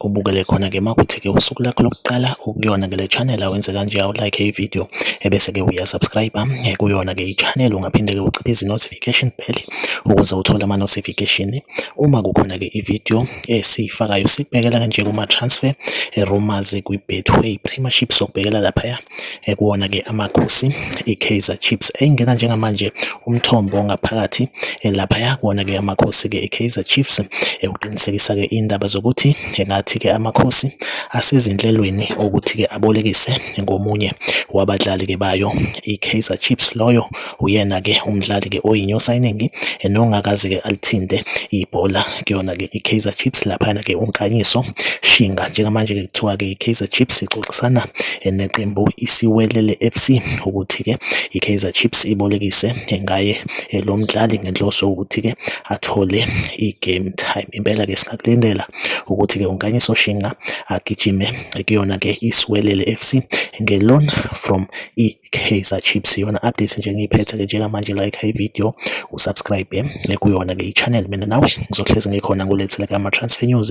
ubukele khona ke makuthi ke usuku lakho lokuqala ukuyona ke le channel awenze kanje awu like i video ebese ke uya subscribe ah, eh, kuyona ke i channel ungaphinde ke uciphe izi notification bell ukuze uthole ama notification uma kukhona ke i video esiyifakayo sikubhekela kanje kuma transfer eh, rumors kwi betway premiership sokubhekela lapha ya ekuwona ke amakhosi iKaizer Chiefs engena njengamanje umthombo ngaphakathi lapha yakuwona ke amakhosi ke iKaizer Chiefs ekuqinisekisa ke indaba zokuthi engathi ke amakhosi asezinhlelweni ukuthi ke abolekise ngomunye wabadlali ke bayo iKaizer Chiefs loyo Uyena-ke umdlali-ke oyi-new signing nongakaze-ke alithinte ibhola kuyona-ke i-Kaizer Chiefs laphana-ke uNkanyiso Shinga. Njengamanje-ke kuthiwa-ke i-Kaizer Chiefs ixoxisana neqembu iSiwelele FC ukuthi-ke i-Kaizer Chiefs ibolekise ngaye eh, lo mdlali ngenhloso yokuthi-ke athole i-game time. Impela-ke singakulindela ukuthi-ke uNkanyiso Shinga agijime kuyona-ke iSiwelele FC nge-loan from i Kaizer Chiefs iyona update nje engiyiphethe ke njengamanje like i video usubscribe eh, kuyona ke i-channel mina nawe ngizohlezi ngikhona ngulethele ke ama-transfer news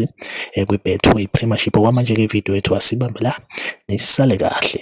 eh, kwi-betway premiership okwamanje ke video yethu asibambe la nisale kahle